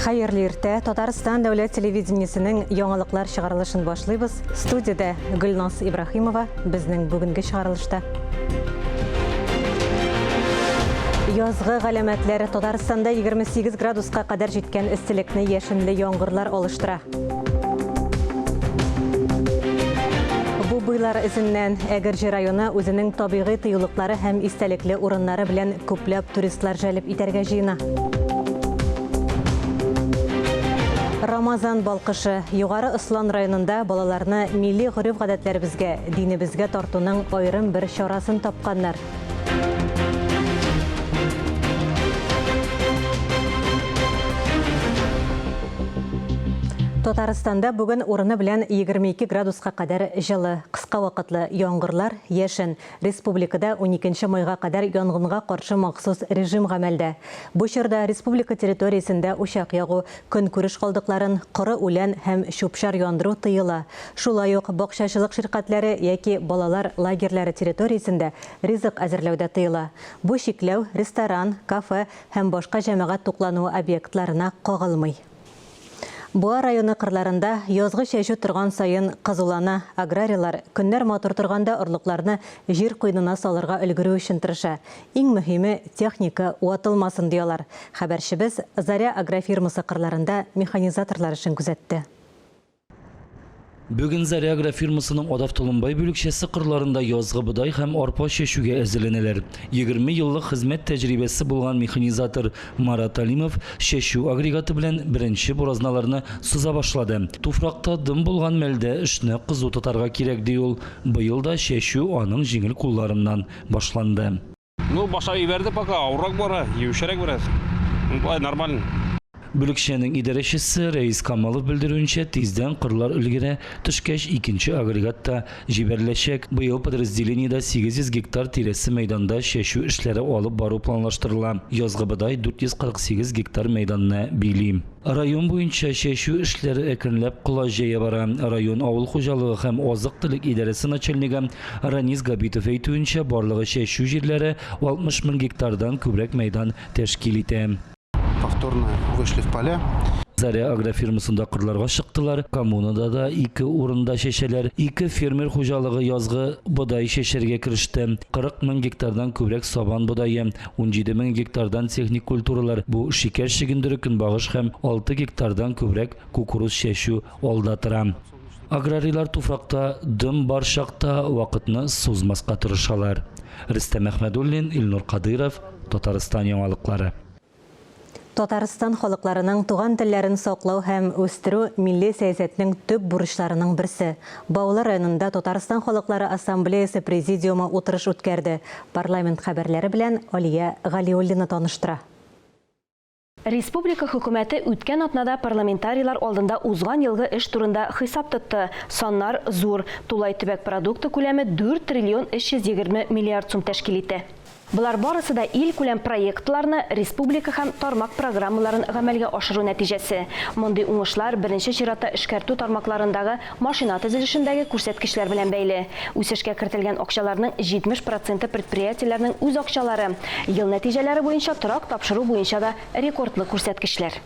Хәерле иртә. Татарстан дәүләт телевидениесенең яңалыклар чыгарылышын башлыйбыз. Студиядә Гөлназ Ибрахимова безнең бүгенге чыгарылышта. Язгы галәмәтләр Татарстанда 28 градуска кадәр җиткән эсселекне яшенле яңгырлар алыштыра. Бу буйлар эзеннән Әгерҗе районы үзенең табигый тыюлыклары һәм истәлекле урыннары белән күпләп туристлар җәлеп итәргә җыена. Рамазан балкышы Югары Ослан районында балаларны милли гореф-гадәтләребезгә, динебезгә тартуның аерым бер чарасын тапканнар. Татарстанда бүген урыны белән 22 градуска кадәр җылы. Кыска вакытлы яңгырлар, яшен. Республикада 12 майга кадәр янгынга каршы махсус режим гамәлдә. Бу чорда республика территориясендә учак ягу, Көнкүреш калдыкларын, коры үлән һәм чүп-чар яндыру тыела. Шулай ук бакчачылык ширкәтләре яки балалар лагерьлары территориясендә ризык әзерләү дә тыела. Бу чикләү ресторан, кафе һәм башка җәмәгать туклануы объектларына кагылмый. Буа районы кырларында язгы чәчү торган саен кызулана, аграрийлар, көннәр матур торганда орлыкларны җир куенына салырга өлгерү өчен тырыша, Иң мөһиме, техника ватылмасын, ди алар. Хәбәрчебез Заря агрофирмасы кырларында механизаторлар эшен күзәтте. Бүген Заря агрофирмасының Адав Толымбай бүлекчәсе кырларында язгы бодай һәм арпа чәчүгә әзерләнәләр. Егерме еллык хезмәт тәҗрибәсе булган механизатор Марат Алимов чәчү агрегаты белән беренче буразналарны сыза башлады. Туфракта дым булган мәлдә эшне кызу тотарга кирәк, ди ул. Быел да чәчү аның җиңел кулларыннан башланды. Ну башлап ибәрде пока, авыррак бара, юешәрәк бераз. Ну болай нормально. Бүлекчәнең идарәчесе Рәис Камалов белдерүенчә, тиздән кырлар өлгерә төшкәч, икенче агрегат та җибәреләчәк. Быел подразделениедә 800 гектар тирәсе мәйданда чәчү эшләре алып бару планлаштырыла. Язгы бодай 448 гектар мәйданны били. Район буенча чәчү эшләре әкренләп колач җәя бара. Район авыл хуҗалыгы һәм азык-төлек идарәсе начальнигы Ранис Габитов әйтүенчә, барлыгы чәчү җирләре 60 мең гектардан күбрәк мәйдан тәшкил итә. Повторно вышли в поля. Заря агрофирмасында кырларга чыктылар, коммунада да ике урында чәчәләр. Ике фермер хуҗалыгы язгы бодай чәчәргә кереште. 40 мең гектардан күбрәк сабан бодае, 17 мең гектардан техник культуралар, бу шикәр чөгендере, көнбагыш һәм 6 гектардан күбрәк кукуруз чәчү алда тора. Аграрийлар туфракта дым бар чакта вакытны сузмаска тырышалар. Рөстәм Әхмәдуллин, Илнур Кадыйров, Татарстан яңалыклары. Татарстан халыкларының туган телләрен саклау һәм үстерү милли сәясәтнең төп бурычларының берсе. Баулы районында Татарстан халыклары ассамблеясе президиумы утырыш үткәрде. Парламент хәбәрләре белән Алия Галиуллина таныштыра. Республика Хөкүмәте үткән атнада парламентарийлар алдында узган елгы эш турында хисап тотты. Саннар зур. Тулай төбәк продукты күләме дүрт триллион 320 миллиард сум тәшкил итә. Болар барысы да илкүләм проектларны, республика һәм тармак программаларын гамәлгә ашыру нәтиҗәсе. Мондый уңышлар, беренче чиратта, эшкәртү тармакларындагы машина төзелешендәге күрсәткечләр белән бәйле. Үсешкә кертелгән акчаларның 70 проценты предприятиеләрнең үз акчалары. Ел нәтиҗәләре буенча торак тапшыру буенча да рекордлы күрсәткечләр.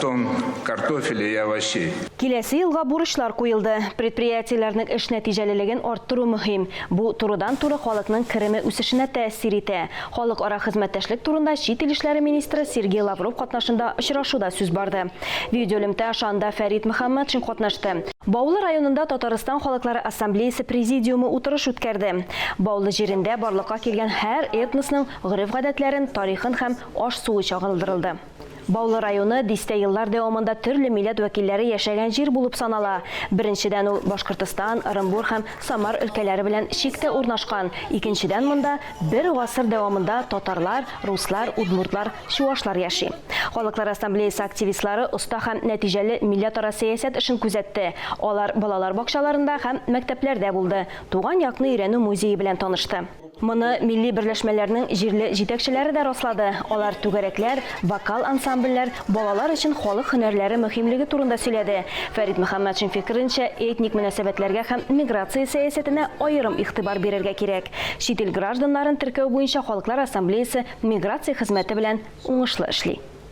Тон картофеля и овощей. Киләсе елга бурычлар куелды. Предприятиеләрнең эш нәтиҗәлелеген арттыру мөһим. Бу турыдан-туры халыкның кереме үсешенә тәэсир итә. Халыкара хезмәттәшлек турында чит ил эшләре министры Сергей Лавров катнашында очрашуда сүз барды. Видеоэлемтә аша анда Фәрит Мөхәммәтшин катнашты. Баулы районында Татарстан Халыклары Ассамблеясе Президиумы утырыш үткәрде. Баулы җирендә барлыкка килгән һәр этносның гореф-гадәтләрен, тарихын һәм Аш суы чагылдырылды. Баулы районы дистә еллар дәвамында төрле милләт вәкилләре яшәгән җир булып санала. Беренчедән, ул Башкортостан, Ырымбур һәм Самар өлкәләре белән чиктә урнашкан, икенчедән, монда бер гасыр дәвамында татарлар, руслар, удмуртлар, чуашлар яши. Халыклар ассамблеясе активистлары оста һәм нәтиҗәле милләтара сәясәт эшен күзәтте. Алар балалар бакчаларында һәм мәктәпләрдә булды, туган якны өйрәнү музее белән танышты. Моны милли берләшмәләрнең җирле җитәкчеләре дә раслады, алар түгәрәкләр, вокал ансамбльләр, балалар өчен халык һөнәрләре мөһимлеге турында сөйләде. Фәрит Мөхәммәтшин фикеренчә, этник мөнәсәбәтләргә һәм миграция сәясәтенә аерым игътибар бирергә кирәк. Чит ил гражданнарын теркәү буенча Халыклар ассамблеясе миграция хезмәте белән уңышлы эшли.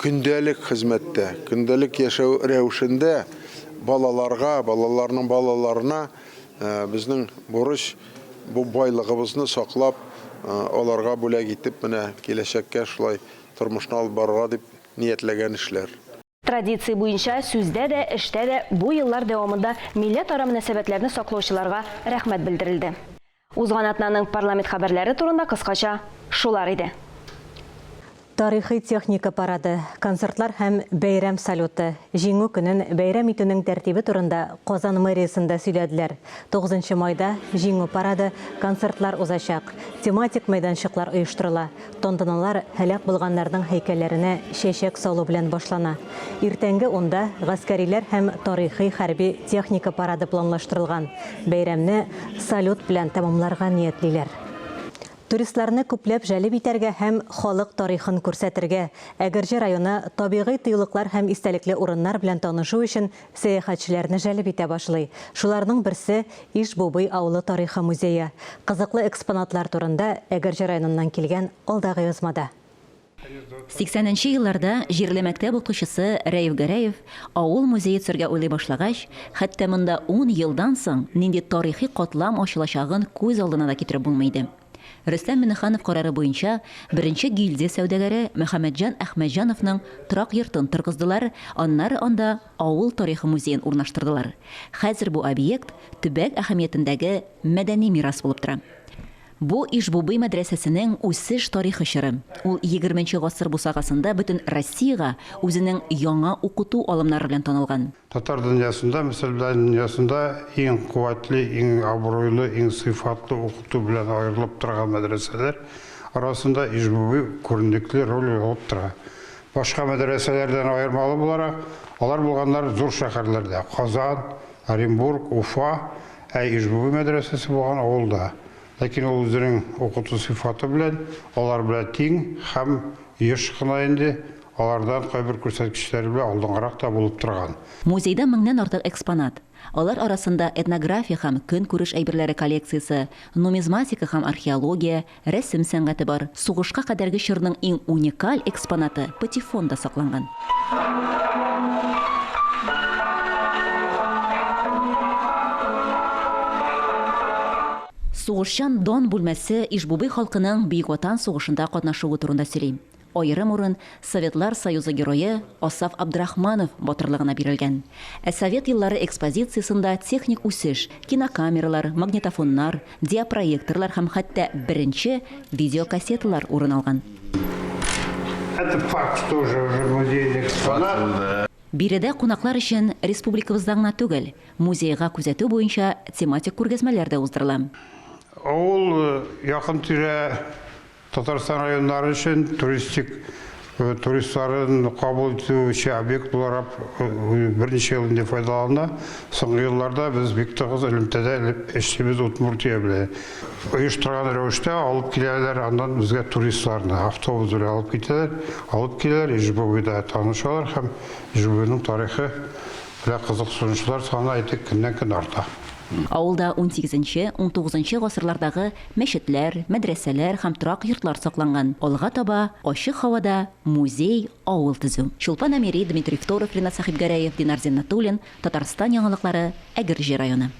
Көндәлек хезмәттә, көндәлек яшәү рәвешендә балаларга, балаларның балаларына безнең бурыч, бу байлыгыбызны саклап, аларга бүләк итеп, менә киләчәккә шулай тормышны алып барырга дип ниятләгән эшләр. Традиция буенча, сүздә дә, эштә дә бу еллар дәвамында милләтара мөнәсәбәтләрне саклаучыларга рәхмәт белдерелде. Узган атнаның парламент хәбәрләре турында кыскача шулар иде. Тарихи техника парады, концертлар һәм бәйрәм салюты, Җиңү көнен бәйрәм итүнең тәртибе турында Казан мэриясендә сөйләделәр. Тугызынчы майда Җиңү парады, концертлар узачак, тематик мәйданчыклар оештырыла. Тантаналар һәлак булганнарның һәйкәлләренә чәчәк салу белән башлана. Иртәнге унда гаскәриләр һәм тарихи хәрби техника парады планлаштырылган. Бәйрәмне салют белән тәмамларга ниятлиләр. Туристларны күпләп җәлеп итәргә һәм халык тарихын күрсәтергә, Әгерҗе районы табигый тыюлыклар һәм истәлекле урыннар белән танышу өчен сәяхәтчеләрне җәлеп итә башлый. Шуларның берсе, Иж-Бубый авылы тарихы музее. Кызыклы экспонатлар турында Әгерҗе районыннан килгән алдагы язмада. Сиксәненче елларда җирле мәктәп укучысы Рәиф Гәрәев авыл музее төзергә уйлый башлагач, хәтта монда ун елдан соң нинди тарихи катлам ачылачагын күз алдына да китереп булмый иде. Рөстәм Миңнеханов карары буенча беренче гильдия сәүдәгәре Мөхәммәтҗан Әхмәтҗановның торак йортын торгыздылар, аннары анда авыл тарихы музеен урнаштырдылар. Хәзер бу объект төбәк әһәмиятендәге мәдәни мирас булып тора. Бу Иж-Бубый мәдрәсәсенең үсеш тарихы чоры. Ул егерменче гасыр бусагасында бөтен Россиягә үзенең яңа укыту алымнары белән танылган. Татар дөньясында, Мисыр дөньясында иң куәтле, иң абруйлы, иң сыйфатлы укыту белән аерылып торган мәдрәсәләр арасында Ижбуби күренекле роль алып тора. Башка мәдрәсәләрдән аермалы буларак, алар булганнар зур шәһәрләрдә, Казан, Оренбург, Уфа, ә Ижбуби мәдрәсәсе булган авылда, Ләкин ул үзенең укыту сыйфаты белән алар белән тиң һәм еш кына инде алардан кайбер күрсәткечләре белән алдынгырак та булып торган. Музейда меңнән артык экспонат. Алар арасында этнография һәм көнкүреш әйберләре коллекциясе, нумизматика һәм археология, рәсем сәнгате бар. Сугышка кадәрге чорның иң уникаль экспонаты, патефон да сакланган. Сугышчан Дон бүлмәсе Иж-Бубый халкының Бөек Ватан сугышында катнашуы турында сөйли. Аерым урын Советлар Союзы Герое Асаф Абдрахманов батырлыгына бирелгән. Ә Совет еллары экспозициясендә техник үсеш, кинокамералар, магнитофоннар, диапроекторлар һәм хәтта беренче видеокассеталар урын алган. Это факт тоже уже музейный экспонат. Биредә кунаклар өчен республикабызда гына түгел, музейга күзәтү буенча тематик күргәзмәләр дә уздырыла. Авыл, якын-тирә Татарстан районнары өчен туристик туристларын кабул итүче объект буларак берничә ел инде файдалана. Соңгы елларда без бик тыгыз элемтәдә эшлибез Удмуртия белән. Оештырган рәвештә алып киләләр аннан безгә туристларны, автобус белән алып китәләр, алып киләләр, Ижбовида танышалар һәм Ижбовиның тарихы белән кызыксынучылар саны әйтик көннән-көн арта. Авылда унсигезенче, унтугызынчы гасырлардагы мәчетләр, мәдрәсәләр һәм торак йортлар сакланган. Алга таба, ачык һавада музей, авыл төзү. Чулпан Әмири, Дмитрий Второв, Ринат Сәхибгәрәев, Динар Зиннәтуллин, Татарстан яңалыклары, Әгерҗе районы.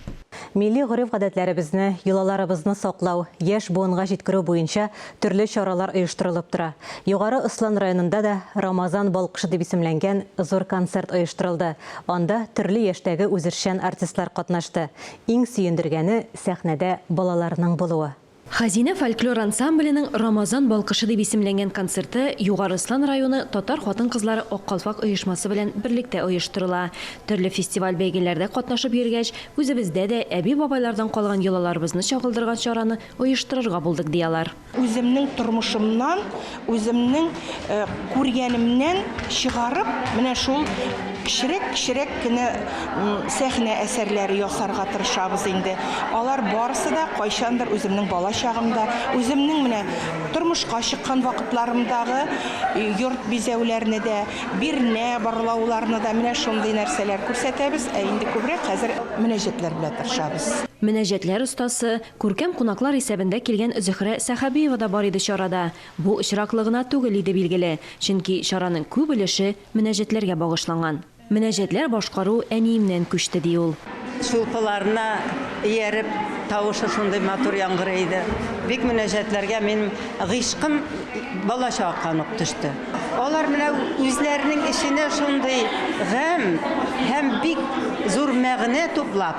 Милли гореф-гадәтләребезне, йолаларыбызны саклау, яшь буынга җиткерү буенча төрле чаралар оештырылып тора. Югары Ослан районында да Рамазан балкышы дип исемләнгән зур концерт оештырылды. Анда төрле яшьтәге үзешчән артистлар катнашты. Иң сөендергәне, сәхнәдә балаларның булуы. Хәзинә фольклор ансамбленең Рамазан балкышы дип исемләнгән концерты Югары Ослан районы татар хатын-кызлары Ак калфак оешмасы белән берлектә оештырыла. Төрле фестиваль-бәйгеләрдә катнашып йөргәч, үзебездә дә әби-бабайлардан калган йолаларыбызны чагылдырган чараны оештырырга булдык, ди алар. Үземнең тормышымнан, үземнең күргәнемнән чыгарып, менә шул кечерәк-кечерәк кенә сәхнә әсәрләре ясарга тырышабыз инде. Алар барысы да кайчандыр үземнең бала чагымда, үземнең менә тормышка чыккан вакытларымдагы йорт бизәүләрне дә, бирнә барлауларны да, менә шундый нәрсәләр күрсәтәбез, ә инде күбрәк хәзер мөнәҗәтләр белән тырышабыз. Мөнәҗәтләр остасы Күркәм кунаклар исәбендә килгән Зөһрә Сәхәбиева да бар иде чарада. Бу очраклы гына түгел иде, билгеле, чөнки чараның күп өлеше мөнәҗәтләргә багышланган. Мөнәҗәтләр башкару әниемнән күчте, ди ул. Чулпыларына ияреп, тавышы шундый матур яңгырый иде. Бик мөнәҗәтләргә минем гыйшкым балачактан ук төште. Алар менә үзләренең эченә шундый гамь һәм бик зур мәгънә туплап.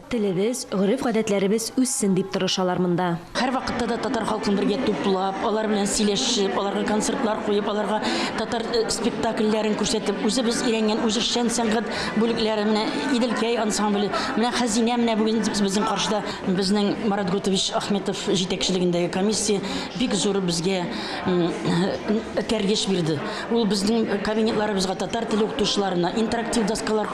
Телебез, гореф-гадәтләребез үссен дип тырышалар монда. Һәрвакытта да татар халкын бергә туплап, алар белән сөйләшеп, аларга концертлар куеп, аларга татар спектакльләрен күрсәтеп, үзебез өйрәнгән үзешчән сәнгать бүлекләре, менә Иделкәй ансамбле, менә Хәзинә менә бүген безнең каршыда. Безнең Марат Готович Ахметов җитәкчелегендәге комиссия бик зур безгә этәргеч бирде. Ул безнең кабинетларыбызга татар теле укытучыларына интерактив доскалар,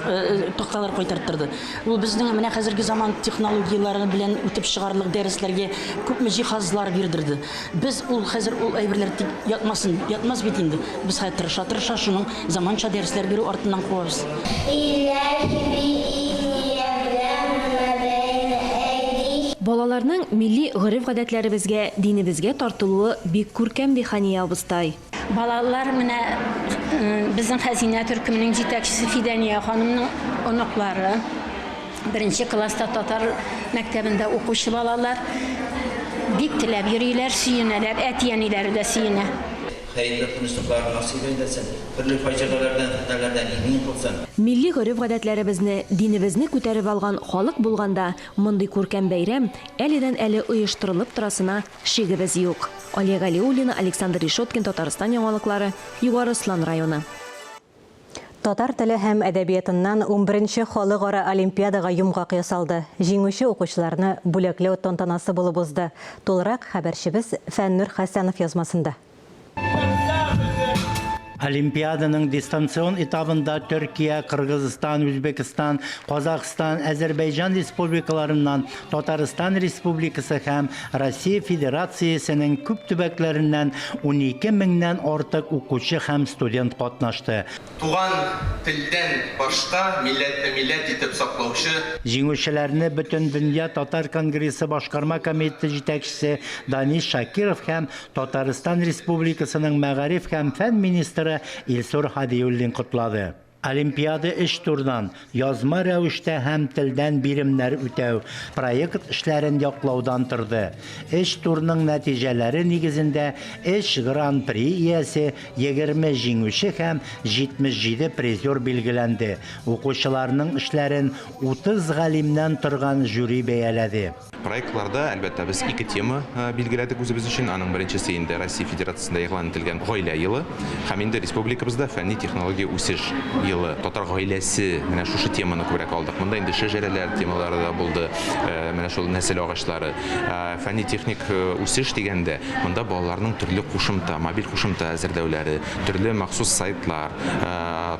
такталар кайтарттырды. Ул безнең менә хәзерге заман технологияләре белән үтеп чыгарлык дәресләргә күпме җиһазлар бирдерде. Без ул хәзер ул әйберләр тик ятмасын, ятмас бит инде. Без хәзер тырыша-тырыша шуның заманча дәресләр бирү артыннан куабыз. Илаһи биизния белән гына бәйле әйди. Балаларның милли гореф-гадәтләребезгә, динебезгә тартылуы бик күркәм, ди Хания абыстай. Балалар менә безнең хәзинә төркеменең җитәкчесе Фидания ханымның оныклары. Беренче класста татар мәктәбендә укучы балалар бик теләп йөриләр, сөенәләр, әти-әниләре дә сөенә. Хәерле тынычлыклар насыйп әйләсен, төрле фаҗигаләрдән, фетнәләрдән имин кылсын. Милли гореф-гадәтләребезне, динебезне күтәреп алган халык булганда, мондый күркәм бәйрәм әледән-әле оештырылып торасына Шигебез юк. Алия Галиуллина, Александр Решеткин, Татарстан яңалыклары, Югары Ослан районы. Татар теле һәм әдәбиятыннан унберенче халыкара олимпиадага йомгак ясалды. Җиңүче укучыларны бүләкләү тантанасы булып узды. Тулырак хәбәрчебез Фәннүр Хәсәнов язмасында. Олимпиаданың дистанцион этабында Төркия, Кыргызстан, Үзбекстан, Казахстан, Әзербәйҗан республикаларыннан, Татарстан Республикасы һәм Россия Федерациясенең күп төбәкләреннән 12 меңнән артык укучы һәм студент катнашты. Туган телдән башка милләтне милләт итеп саклаучы. Җиңүчеләрне Бөтендөнья татар конгрессы башкарма комитеты җитәкчесе Данис Шакиров һәм Татарстан Республикасының мәгариф һәм фән министры Илсур Һадиуллин котлады. Олимпиада өч турдан, язма рәвештә һәм телдән биремнәр үтәү, проект эшләрен яклаудан торды. Өч турның нәтиҗәләре нигезендә өч Гран-при иясе, егерме җиңүче һәм 77 призер билгеләнде, укучыларның эшләрен 30 галимнән торган жюри бәяләде. Проектларда, әлбәттә, без ике тема билгеләдек үзебез өчен. Аның беренчесе инде Россия Федерациясендә игълан ителгән Гаилә елы һәм инде республикабызда фәнни-технология үсеш елы. Татар гаиләсе, менә шушы теманы күбрәк алдык. Монда инде шәҗәрәләр темалары да булды, менә шул нәсел агачлары. Фәнни-техник үсеш дигәндә, монда балаларның төрле кушымта, мобиль кушымта әзерләүләре, төрле махсус сайтлар,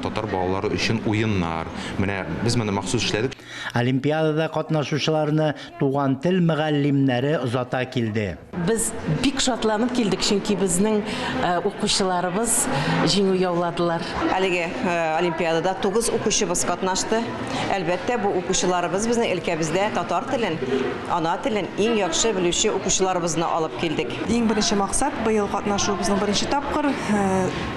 татар балалары өчен уеннар. Менә без моны махсус эшләдек. Олимпиадада катнашучыларны туган тел мөгаллимнәре озата килде. Без бик шатланып килдек, чөнки безнең укучыларыбыз җиңү яуладылар. Әлеге олимпиадада тугыз укучыбыз катнашты. Әлбәттә, бу укучыларыбыз безнең өлкәбездә татар телен, ана телен иң яхшы белүче укучыларыбызны алып килдек. Иң беренче максат, быел катнашуыбызның беренче тапкыр.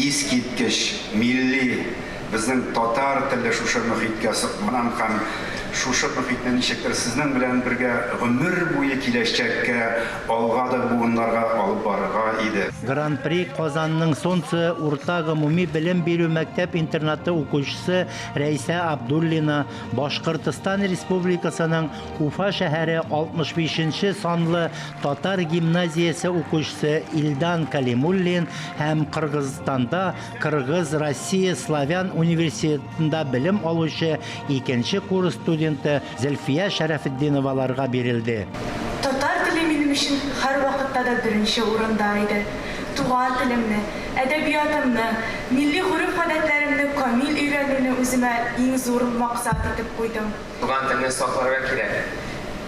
Искиткеч, милли, безнең татар теле шушы мөхиткә сукмаган һәм шушы мөхитне ничектер сезнең белән бергә гомер буе киләчәккә, алга да буыннарга алып барырга иде. Гран-при Казанның Солнце урта гомуми белем бирү мәктәп-интернаты укучысы Рәйсә Абдуллина, Башкортстан Республикасының Уфа шәһәре 65 нче санлы Татар гимназиясе укучысы Илдан Калимуллин һәм Кыргызстанда Кыргыз, Россия, Славян университетында белем алучы икенче курс студенты Зөлфия Шәрәфетдиноваларга бирелде. Татар теле минем өчен һәрвакытта да беренче урында иде. Туган телемне, әдәбиятымны, милли гореф-гадәтләремне камил өйрәнүне үземә иң зур максат итеп куйдым. Туган телне сакларга кирәк.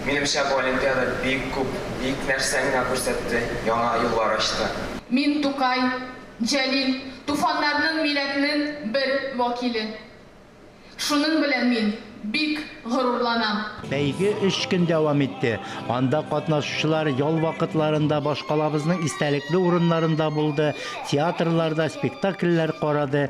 Минемчә бу олимпиада бик күп, бик нәрсә миңа күрсәтте, яңа юллар ачты. Мин Тукай, Җәлил, туфаннарның милләтнең бер вәкиле. Шуның белән мин бик горурланам. Бәйге өч көн дәвам итте. Анда катнашучылар ял вакытларында башкалабызның истәлекле урыннарында булды, театрларда спектакльләр карады,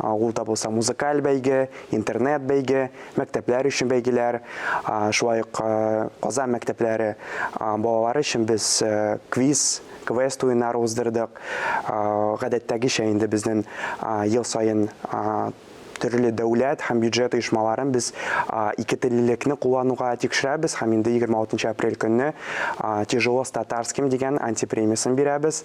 Авылда булса музыкаль бәйге, интернет бәйге, мәктәпләр өчен бәйгеләр, шулай ук Казан мәктәпләре балалары өчен без квиз, квест уеннары уздырдык. Гадәттәгечә инде безнең ел саен төрле дәүләт һәм бюджет оешмаларын без ике теллелекне куллануга тикшерәбез һәм инде 26 апрель көнне Тяжело с татарским дигән антипремиясын бирәбез.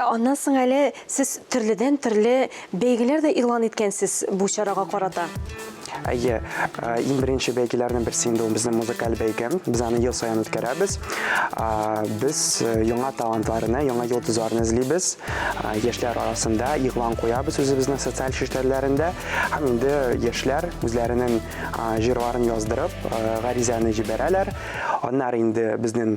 Аннан соң әле сез төрледән төрле бәйгеләр дә игълан иткәнсез бу чарага карата. Әйе, э, иң беренче бәйгеләрнең берсе инде ул безнең музыкаль бәйге. Без аны ел саен үткәрәбез. Без э, яңа талантларны, яңа йолдызларны эзлибез. Яшьләр арасында игълан куябыз үзебезнең социаль челтәрләрендә. Һәм инде яшьләр үзләренең җырларын яздырып, э, гаризаны җибәрәләр. Аннары инде безнең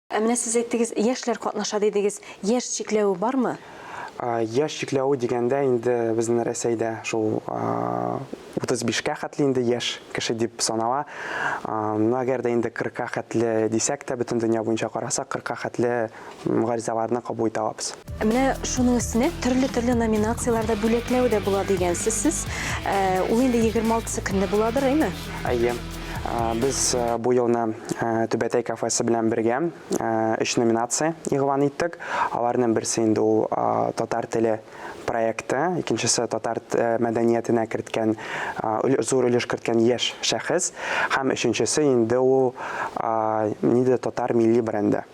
Ә менә сез әйттегез, яшьләр катнаша дидегез. Яшь чикләве бармы? Яшь чикләве дигәндә инде безнең Рәсәйдә шул 35 кә хәтле инде яшь кеше дип санала. Ну, әгәр дә инде 40 ка хәтле дисәк тә, бөтен дөнья буенча карасак, 40 ка хәтле гаризаларны кабул итә алабыз. Менә шуның өстенә төрле-төрле номинацияләрдә бүләкләү дә була дигәнсез сез. Э, ул инде 26 көнне буладыр, әйме? Әйе. Э, без э, бу елны Түбәтәй кафесы белән бергә өч номинация игълан иттек. Аларның берсе инде ул татар теле проекты, икенчесе татар мәдәниятенә керткән зур өлеш керткән яшь шәхес һәм өченчесе инде ул нидә татар милли бренды.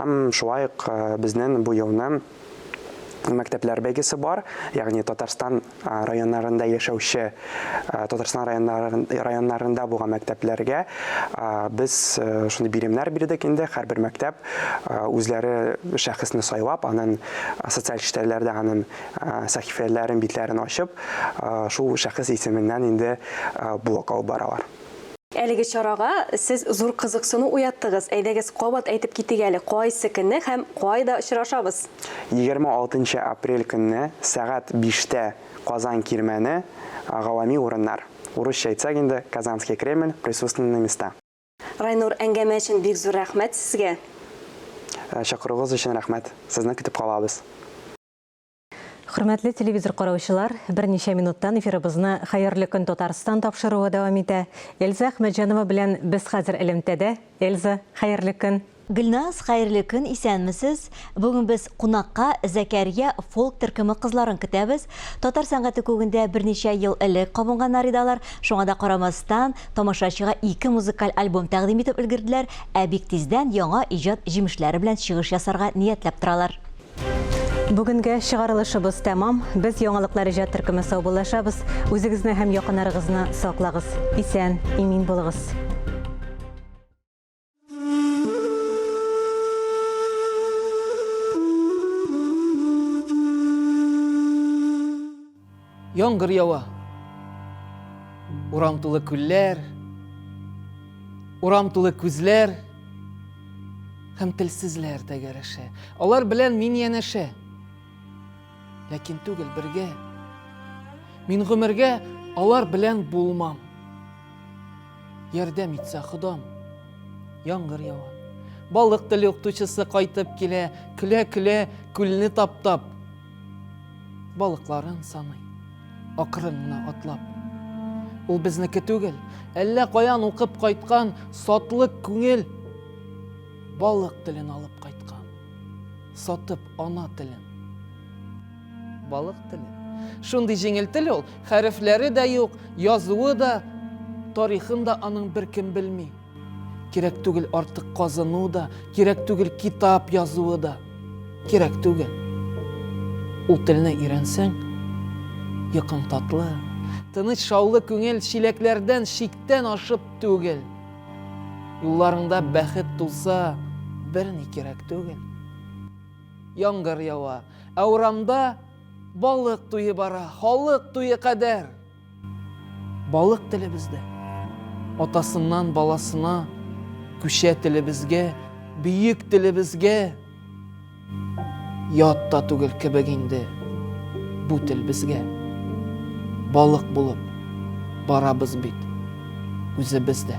Һәм шулай ук безнең бу елны мәктәпләр бәйгесе бар, ягъни Татарстан районнарында яшәүче, Татарстан районнарында булган мәктәпләргә без шундый биремнәр бирдек инде, һәрбер мәктәп үзләре шәхесне сайлап, аның социаль челтәрләрдә аның сәхифәләрен, битләрен ачып, шул шәхес исеменнән инде блок алып баралар. Әлеге чарага сез зур кызыксыну уяттыгыз. Әйдәгез, кабат әйтеп китик әле, кайсы көнне һәм кайда очрашабыз? 26 нчы апрель көнне сәгать биштә Казан Кирмәне, гавами урыннар. Урысча әйтсәк инде, Казанский Кремль, присутственные места. Райнур, әңгәмә өчен бик зур рәхмәт сезгә! Чакыруыгыз өчен рәхмәт. Сезне көтеп калабыз. Хөрмәтле телевизор караучылар, берничә минуттан эфирыбызны Хәерле көн Татарстан тапшыруы дәвам итә. Эльза Әхмәтҗанова белән без хәзер элемтәдә. Эльза, хәерле көн. Гөлназ, хәерле көн, исәнмесез. Бүген без кунакка Зәкәрия фолк төркеме кызларын көтәбез. Татар сәнгате күгендә берничә ел элек кабынганнар иде алар. Шуңа да карамастан, тамашачыга ике музыкаль альбом тәкъдим итеп өлгерделәр, ә бик тиздән яңа иҗат җимешләре белән чыгыш ясарга ниятләп торалар. Бүгенге чыгарылышыбыз тәмам. Без яңалыклар иҗат төркеме саубуллашабыз. Үзегезне һәм якыннарыгызны саклагыз. Исән, имин булыгыз. Яңгыр ява. Урам тулы күлләр, урам тулы күзләр һәм телсезләр тәгәрәшә. Алар белән мин янәшә. Ләкин түгел бергә. Мин гомергә алар белән булмам. Ярдәм итсә Худам. Яңгыр ява. Балык теле укытучысы кайтып килә, көлә-көлә күлне таптап. Балыкларын саный, акрын гына атлап. Ул безнеке түгел, әллә каян укып кайткан сатлык күңел балык телен алып кайткан, сатып ана телен. Балык теле. Шундый җиңел тел ул, хәрефләре дә юк, язуы да, тарихын да аның беркем белми. Кирәк түгел артык казыну да, кирәк түгел китап язуы да. Кирәк түгел. Ул телне өйрәнсәң, йокың татлы, тыныч шаулы күңел чиләкләрдән чиктән ашып түгел. Юлларыңда бәхет тулса, берни кирәк түгел. Яңгыр ява, ә урамда балык туе бара, халык туе кадәр. Балык телебездә. Атасыннан баласына күчә телебезгә, бөек телебезгә. Ят та түгел кебек инде бу тел безгә. Балык булып барабыз бит үзебез дә.